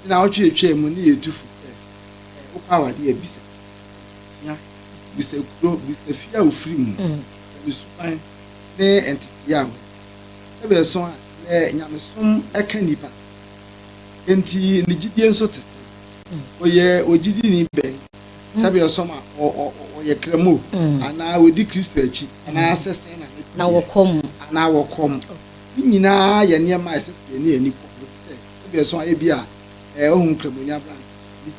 na ɔtwe etwaa mu ne yɛ tu fo sɛ, Ɛ, wokɔ awade a, bisa, bisa abusua, bisa kuro, bisa fie a wofiri mu, mm. bisa ne suban ne ntetee a wɔyɛ. Sɛ bɛso a, nɛ nyamesom ɛka nipa. Enti ne gyidie nso te sɛ. Mm. Ɔyɛ ogyidi ni bɛn? Sɛ bɛso ma ɔyɛ kramo, mm. anaa ɔdi Kristo akyi, anaa sɛ sɛn na ne teɛ. Na wɔkɔ mu. Anaa wɔkɔ mu. Ne nyinaa yɛ nneɛma a ɛsɛ sɛ yɛne ani kɔ. Ebia so a ebia eh, ohu Nkramoni aberante bi,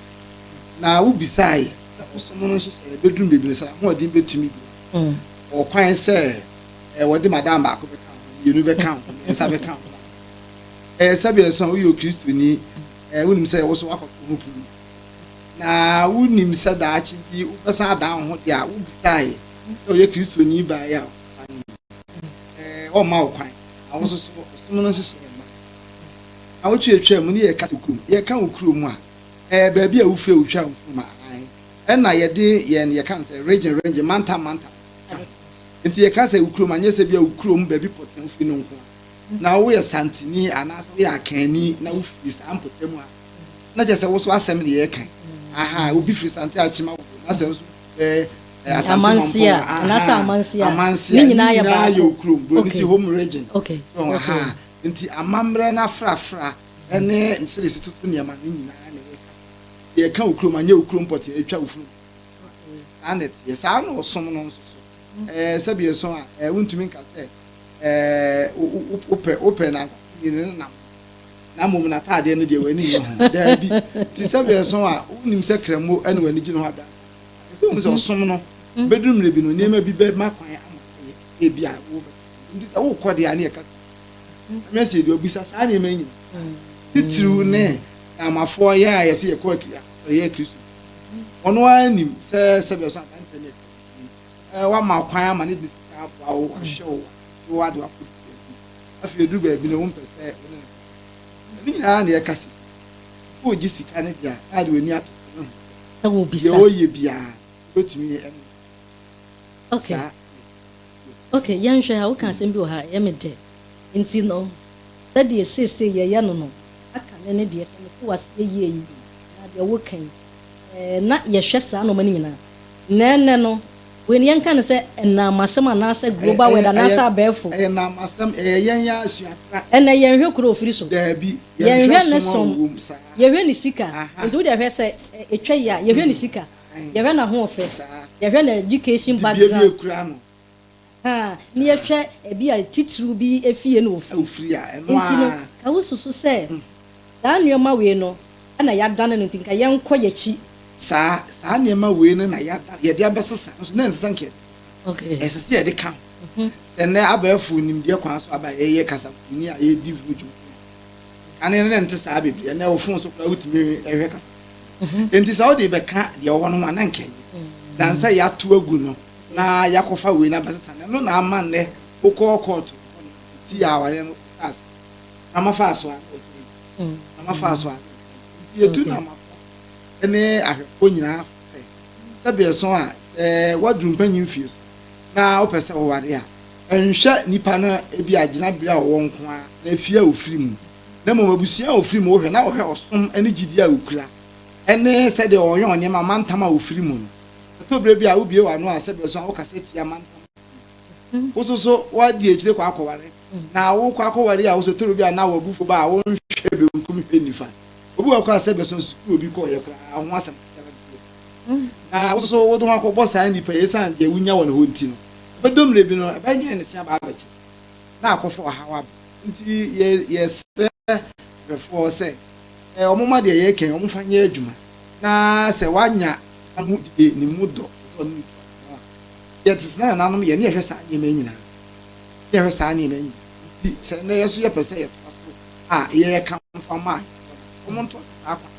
na wobisae sɛ ɔsom no nhyehyɛe beduru baabi no sɛ ahoɔden betumi de mm. wɔ kwan sɛ eh, wɔde madam baako bɛka ho, mmienu bɛka ho, mmiɛnsa bɛka ho. Ɛyɛ eh, sɛbea so a woyɛ Okristoni, eh, wonim sɛ ɛwɔ so wakɔtɔ ho pulu. Na wonim sɛ daakye bi wobɛsan adan wo ho de a wobisae sɛ ɔyɛ Kristoni bae a ɔmma wo kwan. Ahososo ɔsom no nhyehyɛe Awotwe atwa mu ne yɛka sɛ kurom. Yɛka wo kurom a, ɛɛ baabi a wofiri a wotwa wo mfoni ma aane. Ɛna yɛde yɛn yɛka no sɛ regyen regyen, mantam mantam ka ho. Nti yɛka sɛ wo kurom a, nyɛ sɛ bia wo kurom baabi pɔtee a wofiri no nko ara. Na woyɛ Santini anaasɛ woyɛ Akanni na wofiri saa mpɔtam a, na kyerɛ sɛ wo nso asɛm na yɛreka yi. Ahaa, obi firi Sante Akyem Awoko na sɛ nso ɛɛ Asante Mampong a, ahaa, Amanse a, ne nyinaa yɛ wo kurom. Buroni se home regyen. So, ahaa. Enti amammerɛ no afrafra ne nsɛresi toto nneɛma no nyinaa na ɛyɛ kasa. Sɛ yɛka wo kurom a, nyɛ wo kurom pɔtee a atwa wo funu saa na ɛteɛ. Saa na ɔsom no nso so. Ɛɛ sɛbi ɛso a, ɛɛ wontumi nka sɛ ɛɛ wopɛ wopɛ nankasa ni ne nam na mmom n'ataadeɛ no deɛ w'ani nye ho. Daabi. Ti sɛbi ɛso a, wonim sɛ kramo ɛna w'ani gye ne ho adansa. Ɛsɛ wohu sɛ ɔsom no bɛduru mmerɛ bi no nneɛma bi bɛma kwan ama ayɛ ebia wobɛka. Nti sɛ wokɔ deɛ a ne yɛka Nyame se deɛ ɔbisa saa nneɛma yi nyina titiriw ne Namafoɔ yɛn a yɛse yɛkɔ yɛyɛ Kristo ɔno ara nim sɛ sɛbɛ so adanteɛ ne ɛka wama kwan ama ne de sika aboa wo ahwɛ wo de wo ade wakɔ afei ɛduru baabi no wompɛ sɛ wo ne no ɛno nyinaa ne yɛka se wo gye sika ne deɛ a de w'ani ato ne ho sɛ deɛ ɔyɛ biara wobɛtumi ɛne saa Ok, yɛnhwɛ ha, woka asɛm bi wɔ ha a, ɛyɛ me dɛ. Enti no, sɛdeɛ seesei yɛyɛ no no, aka no ne deɛ, sɛ mete wo aseɛ yie yi, anaa deɛ woreka yi, ɛɛ, na yɛhwɛ saa nnoɔma no nyinaa. Na ɛnnɛ no, wei no, yɛnka no sɛ nnaamasɛm anaasɛ Ɛyɛ, global word ɛyɛ, ɛyɛ, anaasɛ abɛɛfo. ɛyɛ nnaamasɛm, ɛyɛ yɛn ara asuatra. Ɛnnɛ yɛnhwɛ kuro a ɔfiri so. Daabi, yɛnhwɛ Yɛnhwɛ ne som a som. ɔwom, saa. Yɛhwɛ ne sika. Aha. Enti wo deɛ hwɛ, sɛ ɛ, ɛtwa yie a, yɛhwɛ ne sika. yɛhwɛ n'ahoɔfɛ, yɛhwɛ ne education background, ahaa, ne yɛhwɛ ebi a titiriw bi efie na ofiri, nti no, ka wosusu sɛ saa nneɛma wei no na yɛadane no nti nka yɛnkɔ y'akyi. Saa, saa nneɛma wei no na yɛadane, yɛde abɛsesa, nso na ɛnsesa nka yɛde sesa, ɛsɛ sɛ yɛde ka ho, sɛ nnɛ abɛɛfo nimdeɛ kwan so aba a yɛyɛ kasakoyini a yɛredi ho dwuma no, kane no na ɛnte saa bebree, ɛnnɛ wo fon so koraa wotumi hwɛ kasakoyini. mhm. nti sɛ wode bɛka deɛ ɔwɔ no ho a na nka ɛnyɛ dan sɛ yɛato agu no na yɛakɔfa wei no abɛsesa no ɛno na ama nnɛ wokɔɔ kɔɔto si a awareɛ no tas na mafaa so a mm. na mafaa so a nti yɛtu na mafo ne ahwɛfoɔ nyinaa sɛ sɛbeɛso a sɛ woaduru mpanyi mfie so na wopɛ sɛ woware a ɛnhwɛ nipa no ebi a gyina bere a ɔwɔ nko a na efie a ofiri mu na mmom abusua a ofiri mu, wohwɛ na wohwɛ ɔsom ne gyidi a okura ne sɛdeɛ ɔyɔn nneɛma, mantam a ofiri mu no. Ɛtɔ berɛ bi a wobue w'ano a sɛdeɛ ɔsua wokasa tia mantam a ofiri mu. Wo nso so woadi akyire kɔ akɔware, na wokɔ akɔware a wo nso ɛtɔ berɛ bi a na w'abufuo ba a wonhwɛ benkum hwɛ nifa. Obi wɔ hɔ koraa a sɛdeɛ ɔsua sukuu a obi kɔeɛ koraa ho asɛm biara nni hɔ. Na wo nso so wode wo ho akɔbɔ saa nnipa yi ɛsiane deɛ wonya wɔ ne hɔ nti no. Ɛbɛdɔ mmerɛ bi no ɛbɛnwɛn ne se aba abɛkyere na akɔfa ɔhaw aba. Nti yɛ yɛsrɛ hwɛfoɔ sɛ ɛ wɔn mma deɛ yɛreka yi wɔn mfa nyɛ adwuma na sɛ wanya ne ho gyidie ne mu dɔ sɛ ɔne no tu ano a yɛ tete na nananom yɛ ne yɛhwɛ saa nneɛma yi nyinaa ne yɛhwɛ saa nneɛma yi nyinaa nti sɛ nnɛ yɛ so yɛpɛ sɛ yɛtoa so a yɛ yɛka mfa ma ahwɛfoɔ no wɔn ntoa so saa kwan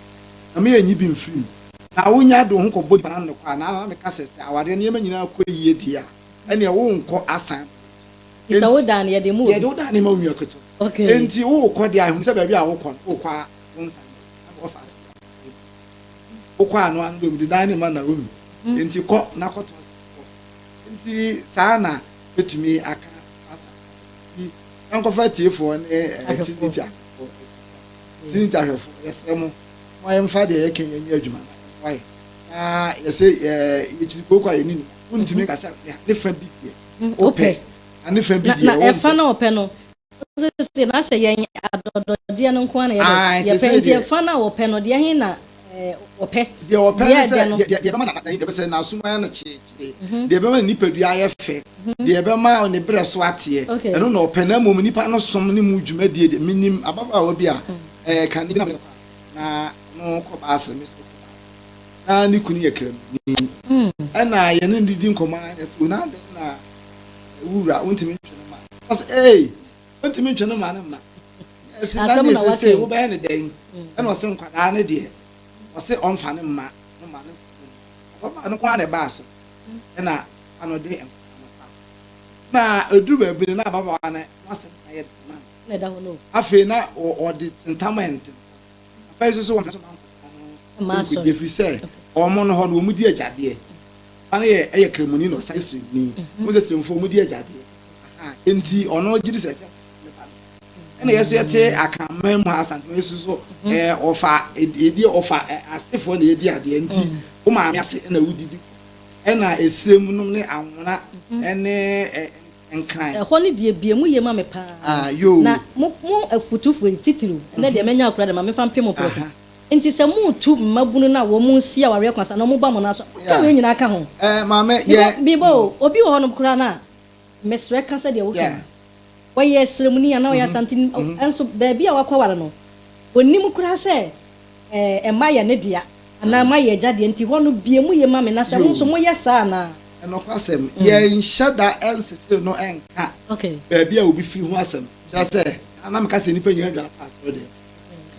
na mo yɛ nyi bi mfiri mu na wonya de wo ho kɔbɔ nipa no ano kɔ a na na meka sɛ sɛ awadeɛ nneɛma nyinaa kɔ yie deɛ a ɛneɛ wonkɔ asan Bisa Enti, wo dan no, yɛde ma obi. yɛde wo dan no ma onua ketewa. Okay. Enti worekɔ deɛ a, ɛhu sɛ baabi a wokɔ no, wokɔ a wonsa nyɛ wo dan bɔfa ase a, wofiri mu. Wokɔ a no ano bɛmu de dan no ma Naomi. Mm. Enti kɔ na kɔtɔ kɔ. Enti saa na bɛtumi aka Asa asɛm. Enti yɛnkɔfa atiefoɔ ne eh, Ahwɛfoɔ. Trinity ahwɛfoɔ ɛtwa. Trinity ahwɛfoɔ, yɛsrɛ mo, mo yɛmfa deɛ yɛka nyɛ nyɛ adwuma na ɛmmoa yɛn. Na yɛsɛ eh, yɛkyiri kooko a yɛne nim. Wontumi nka sɛ ne ha- ne fa bi deɛ. wopɛ na ne fa bi deɛ wompɛ. Na ɛfa na ɔpɛ no sese na sɛ yɛn adɔdɔdeɛ no nko na yɛpɛ nti ɛfa na ɔpɛ no deɛ he na ɔpɛ. Deɛ ɔpɛ no sɛ deɛ ɛbɛma na yɛpɛ sɛ n'asom ayɛ no kyeekyee, mhm. deɛ ɛbɛma ne nipadua ayɛ fɛ, mhm. deɛ ɛbɛma ne berɛ so ateɛ, ɛno na ɔpɛ na mmom nipa no som ne mu dwumadie deɛ menim ababaawa bi a ɛɛ mhm. eh, kane bi na mene na no kɔ baase me so na ne kunu yɛ kramni ɛna mm. yɛne no didi nkɔmmɔ a yɛsɛ wei na dɛn na wura wontumi ntwe no ma ɔsɛ ee wontumi ntwe no ma no mma ɛsi na ne ɛsɛ sɛ wobɛyɛ ne dɛn mm. ɛna ɔsɛ nkwadaa ne deɛ ɔsɛ ɔmfa ne mma no ma no ɔbɛma no kɔ a na ɛbaa so mm. ɛna anɔde nkwadaa na eduru baabi no na ababaawa no n'asɛm ayɛ den ma no afei na ɔde ntam ɛnten Papa yi soso wɔn so manko wɔn ho nkudi efi sɛ wɔn no hɔ no wɔn di agyadeɛ. Papa no yɛ ɛyɛ kremoni na ɔsan siremni. Wɔn sɛ siremfo wɔn di agyadeɛ. Enti ɔno gye di sɛ sɛ ɛna yɛ so yɛte akanman mu ha asante yɛ so so ɛɛ ɔfa edi ɔfa asefoɔ na yɛdi adeɛ nti wo maame ase na wodidi ɛna esirem nom ne anwona ɛne ɛɛ. nkran. Ɛhɔ no deɛ bie mu ye ma me paa na mo mo afutufo yi titiriw ɛnɛ deɛ manya akura dɛma memfa mpem mprɛko nti sɛ mo tu mmabunu no a wɔn nsi awareɛ kwan saa na wɔn ba mo nan so a mo ka wei nyinaa ka ho because meba o obi wɔ hɔ nom koraa no a mesrɛ ka sɛdeɛ wo ka no ɔyɛ srɛmuni anaa ɔyɛ asanteni ɛnso baabi a wakɔ ware no ɔnim koraa sɛ Ɛɛ, mma yɛ ne dea, anaa mma yɛ agya dea, nti hɔ no, bue mo yɛ ma me, na sɛ mo nso moyɛ saa anaa? Nokwasɛm, yɛnhyɛ da nsekyere no nka baabi a obi firi ho asɛm. Kyerɛ sɛ, kan na meka sɛ nnipa nyinaa dwane fa asɔre deɛ.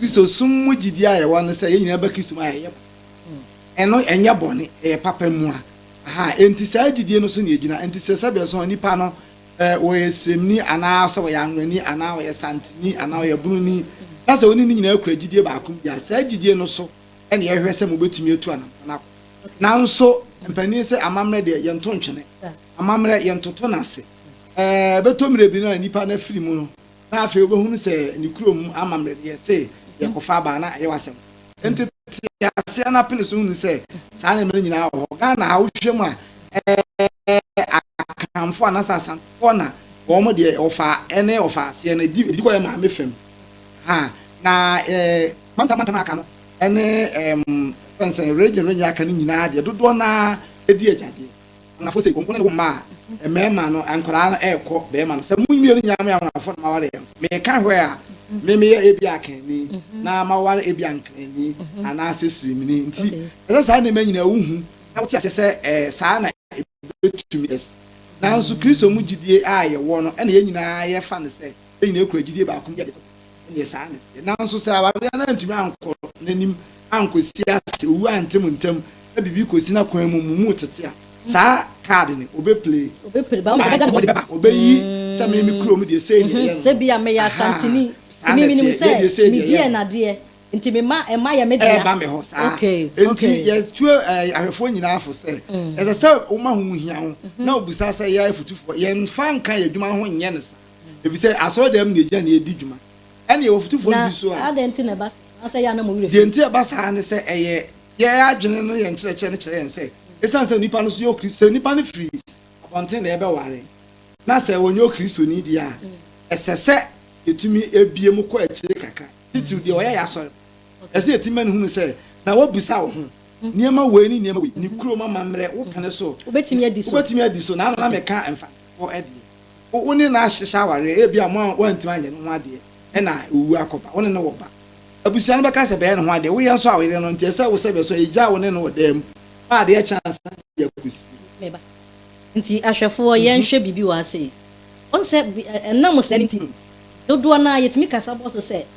Kristosom mu gyidie a yɛwɔ ne sɛ yɛn nyinaa ba Kristo mu a yɛyɛ bɔne. Ɛno ɛnyɛ bɔne, ɛyɛ papa mua. Aha, enti saa gyidie no so na yɛgyina. Enti sɛ sɛdeɛ ɛsɔ nnipa no, Sɛ ɔyɛ sremni anaa sɛ ɔyɛ anwonani anaa ɔyɛ santeni anaa ɔyɛ bununi na sɛ wo ne ne nyinaa kura gyidie baako bi a, saa gyidie no so na yɛhwɛ sɛ mobɛtumi atu anammɔn akɔ. Nanso mpanin sɛ amammerɛ deɛ yɛnto ntwene. Amammerɛ yɛntoto no ase. Ɛbɛtɔ mmerɛ bi no a nnipa no afiri mu no, na afei wobɛhunu sɛ ne kuro mu amammerɛ no yɛ se yɛkɔfa aba na ɛyɛ w'asɛm. Enti te aseɛ na pene so hunu sɛ saa nneɛma no nyinaa wɔ hɔ. Ghana ha wohwɛ mu a ɛɛ Akanfoɔ anaasɛ Asantefoɔ na wɔn deɛ ɔfa ɛne ɔfa aseɛ no ɛdi ɛdi kɔ yɛ maame fam ha na ɛɛ mantam mantam aka no ɛne ɛɛm fɛnsɛn region region aka no nyinaa deɛ dodoɔ naa ɛdi agyadeɛ. Anafo se, Wɔn ne wo mma a mmarima no, nkwadaa no, rekɔ barima no sɛ, Mo mmienu nyinaa moyɛ anwonwafo na moaware yɛn. Meka hwɛ a, me meyɛ ebia akanni, na maware ebia nkranni, anaasɛ siremini. Enti ɛsɛ saa nneɛma nyinaa wuhu na wote ase sɛ saa na ebetumi. Nanso Kristo mu gyidie a yɛwɔ no na yɛn nyinaa yɛfa no sɛ. yɛn nyinaa kura gyidie baako mu yɛde kɔ ɛneɛ saa ne teɛ nanso sɛ awareɛ no antumi ankɔ n'anim ankɔsi ase owu ante mo ntam na biribi kɔsi no akwan mu mo mu tete a saa kaade no ɔbɛ play ɔbɛyi sɛ me me kurom deɛ sei deɛ yɛ no sɛ bia meyɛ asantini saa ne teɛ deɛ sei deɛ yɛ no nti me ma ɛma yɛ me deɛ ɛba me hɔ saa nti yɛtuo ahwɛfoɔ nyinaa fo sɛ ɛsɛ sɛ woma ho hia ho na ɔbusa sɛ yɛ afutufoɔ yɛmfa nka yɛ adwuma no ho nyɛ no saa efisɛ asɔredan mu na egya na edi dwuma. Ɛnna yɛwɔ fotufo no bi nso a. Na adɛn nti na ɛba saa? Anaasɛ ɛyɛ a na mo werɛ fi? Deɛ nti a ɛba saa ne sɛ ɛyɛ yɛn adwene no, yɛn nkyerɛkyerɛ no kyerɛ yɛn sɛ esiane sɛ onipa no nso yɛ Okristoni, sɛ nipa no firi abɔnten na yɛbɛware na sɛ ɔnyɛ Okristoni deɛ a, ɛsɛ sɛ yɛtumi bue mu kɔ akyire kakra, titiriw deɛ ɔyɛ yɛn asɔre no. Ɛsɛ sɛ yɛtumi ma no hunu sɛ, na wabisa wo ho nneɛma wei ne nneɛma wei, ne kurom amammerɛ, wo pene so, wobɛtumi adi so, na ano na meka mfatofoɔ deɛ. Wo ne no ahyehyɛ awareɛ, ebia mo a woantumi anyɛ ne ho adeɛ na owuo akɔba, wo ne no wɔ ba. Abusua no bɛka sɛ bɛyɛ ne ho adeɛ, woyɛ nso a ɔyere no nteɛ sɛ wo sɛ bɛso a egyaa wo ne no wɔ dan mu ma adeɛ kye ansa na obi akɔsi no. Me ba. Nti ahwɛfoɔ yɛnhwɛ biribi wɔ ase yi. Woahu sɛ ɛnam saa nti dodoɔ no ara yɛtumi kasa bɔ so sɛ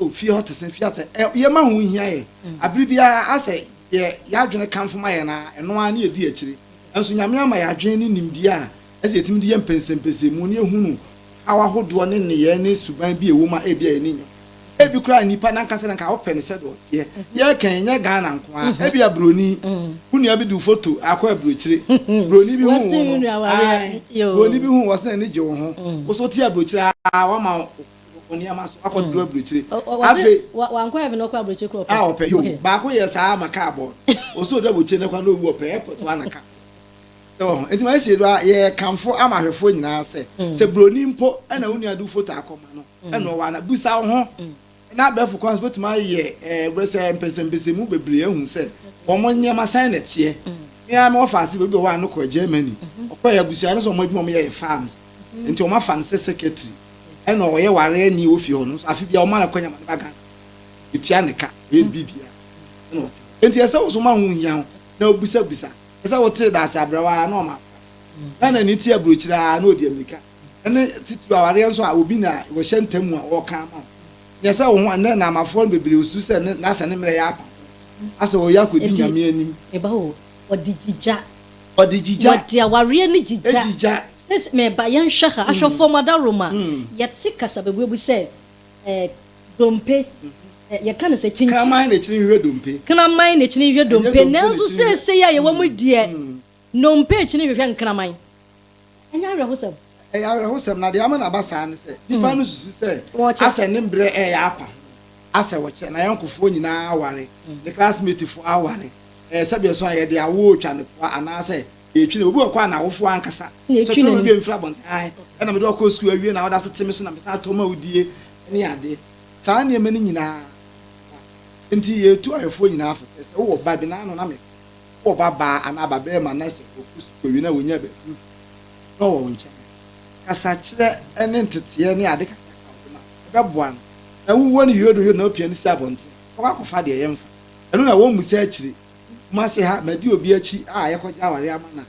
Oh, fie hɔ te sɛ fie atɛ. Ɛ, yɛn ma ho hia yɛ. Abere biara asɛ yɛ yɛadwene kanfo ma yɛn ara, ɛno ara ne yɛdi akyire. Nanso Nyame ama yɛ adwene ne nimdeɛ a ɛsɛ yɛtumi de yɛ mpɛnsɛmpɛsɛmu ne yɛhunu haw ahodoɔ ne nneyɛɛ ne suban bi a ɛwɔ mu a ebia yɛn ani nnye ho. Ebi koraa nnipa no ankasa no nka wopɛ no sɛdeɛ ɔteɛ. Yɛreka yi, ɛnyɛ Ghana nko ara. Ebia Buroni, wo nua bi de wo foto akɔ aburokyire. Buroni bi huu wo no. Ae, Buroni bi huu wo, ɔse n'ani gye wo ho. Wo nso wote aburokyire aa, wama wo. wɔ nneɛma so akɔ duru aburokyire. Afe. Wankɔ heaven ɔkɔ aburokyire kura ɔpɛ. A ɔpɛ yoo. Baako yɛ saa ama kaa bɔɔl. Ɔsɛ ɔduru aburokyire ne kwan na ɔwu ɔpɛ airport hɔ anaka. Sɛ wɔ ho. Nti ma yɛ sie do a yɛ kanfo ama ahwɛfoɔ nyinaa sɛ sɛ broni mpo ɛna wo nua du foto akɔ ma no ɛna ɔwɔ ana busa wo ho na abɛɛfo kwan so bɛtumi ayɛ ɛɛ wɛ sɛ mpɛsɛmpɛsɛ mu bebree ahu sɛ wɔn nneɛma sɛn na ɛteɛ. Me ara me wɔ faase bɛbi ɔwɔ ano kɔ Germany ɔkɔ yɛ abusua no sɛ wɔn adwuma wɔn yɛ yɛ farms nti wɔn afa no sɛ secretary. ɛna ɔyɛ ware ni wɔ fie hɔ no nso afe bia ɔma no kwanya ma ne ba Ghana etua ne ka ɔyɛ ne bibia ɛna ɔte enti ɛsɛ wo so ma ho hia ho na obisabisa ɛsɛ wote daase abrɛwa a na ɔma Ghana ni ti aburokyire a na ɔdi amirika ɛne titiri awareɛ nso a obi na wɔhyɛ ntam a ɔka ama wo nyɛ sɛ wo ho ɛnɛ nnamafoɔ no bebree osu sɛ ne n'asɛ ne mmerɛ yɛ apa asɛ ɔyɛ akɔdi nyame anim Wɔde gyigya. Wɔde gyigya. Wɔde awareɛ ne gyigya. Gyigya. Sese meba yɛnhwɛ ha. Ahwɛfoɔ mo adaworoma. Yɛte kasabebuebu sɛ eh, dompe. Eh, yɛka no sɛ kyinkyin. Kraman na kyini hwehwɛ dompe. Kraman na kyini hwehwɛ dompe. Nanso seesei a yɛwɔ mu deɛ, dompe kyini hwehwɛ nkraman. Ɛnyɛ awerɛhosɛm? Ɛyɛ awerɛhosɛm, na deɛ ama no aba saa ne sɛ, nnipa no susu sɛ asɛ ne mberɛ reyɛ apa, asɛ wɔkyɛ, n'ayɔnkofoɔ nyinaa aware, ne classmatefoɔ aware, ɛɛ, sɛdeɛ ɛso a yɛde awoɔ retwa no poa anaasɛ yɛretwi no. Obi wɔ kɔ a n'awofoɔ ankasa sɛ tɔ ma bi mfiri abɔnten, ae, ɛna mede ɔkɔ sukuu awie na ɔda so te me so na mesan atɔ ma wodie ne adeɛ. Saa nneɛma no nyinaa, enti yɛretu ayɔfoɔ nyinaa fo sɛ, sɛ wowɔ ba bi, n'ano na meka. Wowɔ babaa anaa babarima na sɛ ɔkɔ sukuu awie na ɔnya baabi mfiri a, na ɔwɔ wo nkyɛn a, kasakyerɛ ne nteteɛ ne ade kakraka a ɔde ma no, ɛbɛboa no. Na wowuo no yodoyodo na wopia no si abɔnten a, ɔkɔ akɔfa deɛ yɛmfa. Ɛno na wɔmmisa akyire. Kumase ha, madi obi akyi a yɛkɔgye awareɛ ama no a,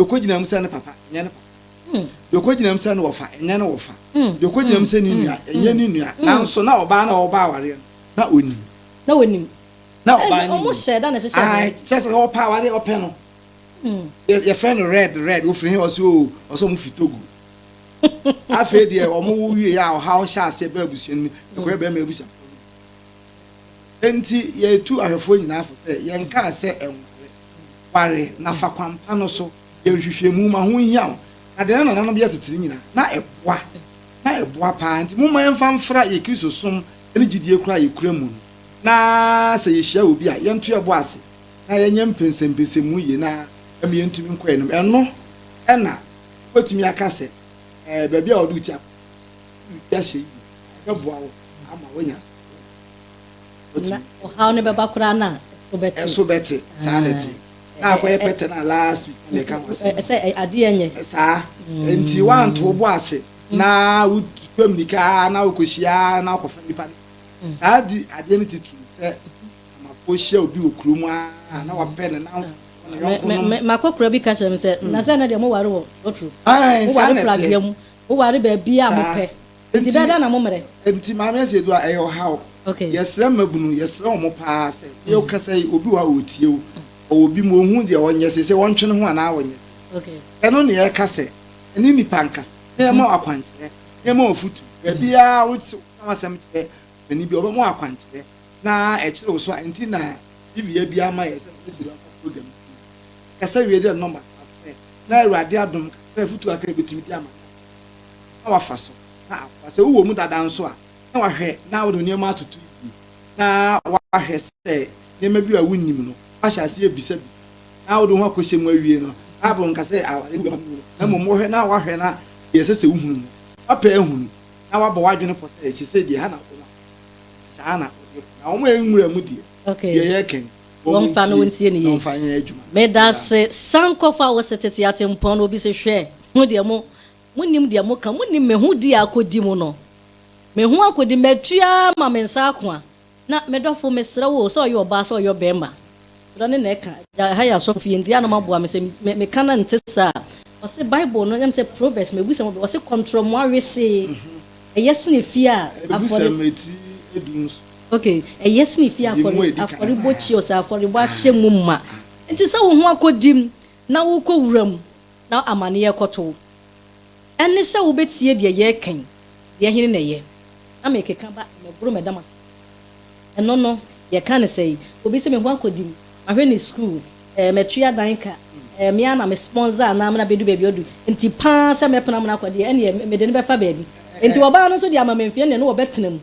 deɛ ɔkɔgyina mu sɛ ne papa, ɛnyɛ ne papa. Deɛ ɔkɔgyina mu sɛ ne wɔfa, ɛnyɛ ne wɔfa. Deɛ ɔkɔgyina mu sɛ ne nua, ɛnyɛ ne nua. Nanso na ɔbaa no a ɔrebɔ awareɛ no, na ɔnim. Na ɔnim. na ɔbaa no mu hyɛ da na ɛhyehyɛ ae kyɛ sɛ ɔpɛ a wade ɔpɛ no hmm. yɛfrɛ no red red wofiri he ɔsɛ o ɔsɛ ɔmo fi togo afei deɛ ɔmo wo wie a ɔhaw hyɛ aseɛ bɛ abusua no mu ɛkɔyɛ bɛrima abusua nti yɛtu ahwɛfoɔ nyinaa fo sɛ yɛnkaa sɛ ɛnware ware na fa kwampa no so yɛnhwehwɛ mu ma ho hia wo na deɛ na nananom bi atetire nyinaa na ɛboa na ɛboa paa nti momma yɛmfa mfra yɛ kristo som ne gyidie kora yɛkura mu no na sɛ yehyia obi a, yɛnto yɛn bo ase na yɛnyɛ mpɛnsɛmpɛnsɛmu yiye na ɛma yentumi nkɔ anim. Ɛno na wubetumi aka sɛ, Ɛɛ, baabi a wɔde wo ti akɔ no, wode wo ti ahyɛ yiye, na ɛbɛboa wo ama woanya asoɔden. Na ɔhaw no bɛba koraa no a, ɛso bɛte. Ɛso bɛte, saa na ɛte. Na akɔyɛ pɛtɛ no a last week na meka ho asɛm. Ɛsɛ ade nyɛ. Saa. Enti woanto wo bo ase na wutwa mmirika na wokɔhyia na wokɔfa nnipa no. saa di adeɛ no titiriw sɛ amafoɔ hyia obi wɔ kuro mu a na wapɛ ne nanfo ne yɔnko nom. Makɔkora bi ka kyerɛ me sɛ, na sɛ na deɛ moware wɔ lotro, moware pragea mu, moware baabi a mopɛ, nti bɛɛ dɛn na mommrɛ? Nti Maame Asiedu a ɛyɛ ɔhaw. Yɛsrɛ mmabunu, yɛsrɛ wɔn paa sɛ, deɛ wokasa yi, obi wɔ hɔ a ɔretie wo, ɔwɔ bi mu, ɔhu deɛ ɔnyɛ seesei, ɔntwe ne ho anaa ɔnyɛ. Ɛno na yɛreka sɛ, ɛne nnipa nkasa, na yɛma wo akwankyerɛ, na yɛma wo afotu, baabiara wo. Ka w'asɛm kyerɛ ɔpanin bi a ɔbɛma wo akwankyerɛ na ɛkyere wo so a enti na TV yɛ biara ma yɛ sɛ na wasi local program si. Kasa wie de nɔma to afrɛ na Awurade adom kakra afutu kakra a ɛbɛtumi de ama na wafa so na aboa. Sɛ wowɔ mu dada nso a na wahwɛ na wode wo nneɛma atoto yie na wahwɛ sɛ nneɛma bi a wonnim no woahyɛ aseɛ abisabisa na wode wo ho akɔhyɛ mu awie no. Bible nka sɛ aware ne wura mu na mmom wohwɛ na wahwɛ na deɛ ɛsɛ sɛ wohunu no wapɛ ahunu na wabɔ w'adwene pɔ sɛ sesei deɛ ha na wobɛma kɔ nti saa na wode kɔ na wɔn a ɛnwura mu deɛ okay deɛ yɛreka yi wɔn fa no ntie ne yie wɔn fa nyɛ adwuma meda se san kɔfa wo se tete atempɔn no obi se hwɛ ho deɛ mo mo nim deɛ mo ka mo nim me ho di a akɔdi mu no me ho akɔdi matua ma me nsa akoa Na me dɔfo, mesrɛ wo o, sɛ ɔyɛ ɔbaa, sɛ ɔyɛ ɔbarima, twerɛ ne na ɛka. Agya ha yɛ asɔfo yɛnti ano ma boa me sɛ me ka no nte saa. Ɔse bible no nyɛm sɛ proverbs me busɛm ɔbɛ ɔse kɔntrɔmoa wesee ɛyɛ sene fie a afɔre. Me busɛm ɛti du nso. Ok ɛyɛ sene fie a afɔre bɔ kyi ɔsɛ afɔre bɔ ahyɛ mu ma. Nti sɛ wo ho akɔ dim na wo kɔ wuram na amane rekɔto wo. Ɛne sɛ wobɛtie deɛ yɛreka yi, deɛ hene na ɛyɛ? Na mekeka ba mmɛboro mɛda mo ase. Ɛno no, yɛka no sɛi, obi sɛ me ho akɔdi mu, mahwɛ ne sukuu, eh, matua dan ka, eh, me ara na me sponsor anaa me na bɛdu baabi ɔdu, nti pa ara sɛ mɛpene amena akɔ deɛ, ɛnneɛ mede no bɛfa baabi. Nti ɔbaa no nso de amammerɛmfeɛ nneɛ no wɔbɛtena mu.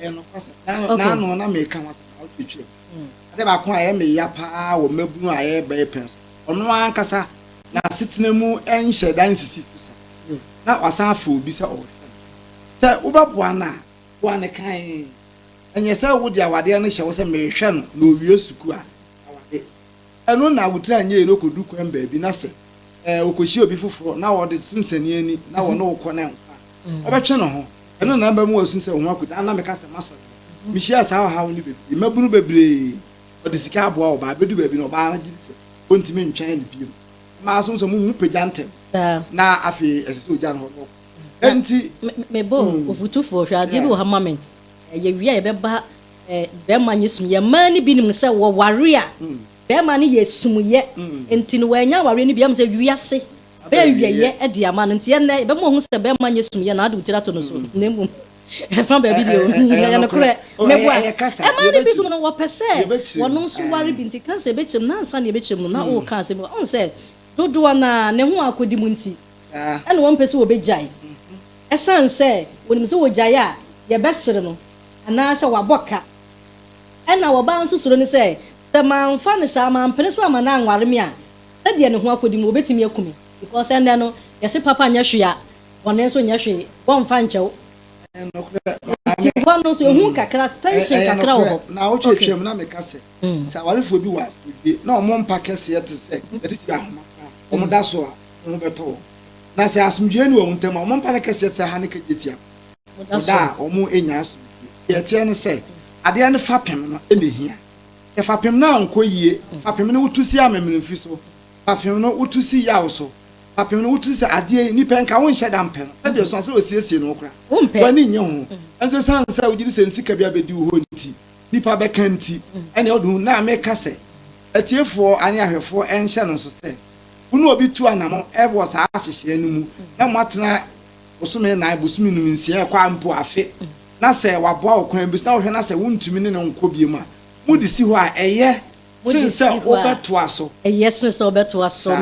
Ɛyɛ nokwasɛm. N'ano Okay. n'ano na meka ho asɛm na ɔtwetwe. Ade baako a ɛyɛ me ya paa wɔ mmabunu a yɛreba yɛ pɛn so. Ɔno ankasa n'asetena mu nhyɛ da nsisi so sa. Na wasan afrɛ obi sɛ ɔrehwɛ no. Sɛ wobɛboa no a, boa no kann. Ɛnyɛ sɛ wode awadeɛ no hyɛ hɔ sɛ merehwɛ no na owie sukuu a, aware. Ɛno na wotraa nnyɛe no kodu kwan baabi na sɛ ɛɛ okohyia obi foforɔ na ɔde to nsɛniani na wɔne wo kɔ na nkwa a, ɔbɛtwe ne ho. Ɛno na ɛbɛma wasu sɛ wo ho akuta. Ana meka sɛ masɔ deɛ? Mehyiaa saa ɔhaw no bebree. Mmabunu bebree, wɔde sika aboa ɔbaa. Ɛbɛdu baabi no ɔbaa no gye di sɛ ɔntumi ntwɛn no bio. Mmaa nso, sɛ wɔhu pagya ntɛm na afei ɛsɛ sɛ ɔgya no hɔ na ɔkɔ. Enti. Mebɔ wo fotufoɔ, hwɛ adeɛ bi wɔ ha ma me. Yɛwie a yɛbɛba Eh, bɛrima nyɛ sumyɛ. Mmaa no bi nim sɛ wɔware a, bɛrima no yɛ sumyɛ. Nti no, wannya awareɛ no bi. Ɛm sɛ wiase bɛyɛ awiɛyɛ de ama no. Nti ɛnnɛ, yɛbɛma wahu sɛ bɛrima nyɛ sumyɛ na ade wo tiri ato no so. Na mmom, ɛfa baabi deɛ o, ɛyɛ nokorɛ. Mɛboa. Mmaa no bi nso no, wɔpɛ sɛ wɔno nso ware bi. Nti ka sɛ ɛbɛkyɛm, na ansa na ɛbɛkyɛm no, na woka asɛm bi. Ɔhu sɛ dodoɔ no ara, ne ho akɔdi mu nti. Saa. Ɛna wɔmpɛ sɛ wɔbɛgyae. Ɛsiane sɛ wɔnim sɛ wɔgyae a, yɛbɛsere no, anaasɛ wɔabɔ ka. Ɛna ɔbaa nso suro ne sɛ, sɛ mamfa no saa, mampene so amma no anware me a, sɛdeɛ ne ho akɔdi no, wɔbɛtumi aku me. Because ɛnnɛ no, yɛse papa nyɛ hwee a, bɔne nso nyɛ hwee. Wɔmfa nkyɛ wo. Ɛyɛ nokorɛ, maame. Nti hɔ no nso, ɛhu kakra, tension kakra wɔ hɔ. Ɛyɛ nokorɛ. Naawɔtwe atwam no, na meka sɛ, sɛ awarefoɔ bi wɔ asomdwie, na wɔn mpa kɛseɛ te sɛ, yɛte sɛ ahoma koraa, wɔda so a, ho bɛtɔ wɔn, na sɛ asomdwoeɛ nni wɔn ntam a, wɔn mpa no kɛseɛ sɛ ha ne ka gyetia no wɔ da a wɔrenya asomdwoeɛ. Deɛ ɛteɛ ne sɛ, adeɛ no fapem no na ɛhia. Sɛ fapem no ankɔ yie, fapem no wotu si amemenemfi so, fapem no wotu si yaw so, fapem no wotu sɛ adeɛ yi nnipa nka wonhyɛ da mpɛ no, sɛdeɛ ɛsua sɛ wɔsiesie no koraa, w'ani nnye ho. Nanso ɛsiane sɛ wogye di sɛ ne sika bi abɛdi wo hɔ nti, nnipa bɛka nti, ɛnneɛ wode hu. Na meka sɛ atiefoɔ ne ahwɛfoɔ nhyɛ no nso sɛ, Wo ne obi tu anammɔn wɔ saa nhyehyɛeɛ no mu, na moatena bosome nnan, bosome num, nsia, ɛkɔ a mpo afe, na sɛ waboa wo kwan bi so, na wohwɛ na sɛ wontumi ne no nkɔ bio a, mode si hɔ a, ɛyɛ sene sɛ wobɛtoa so saa.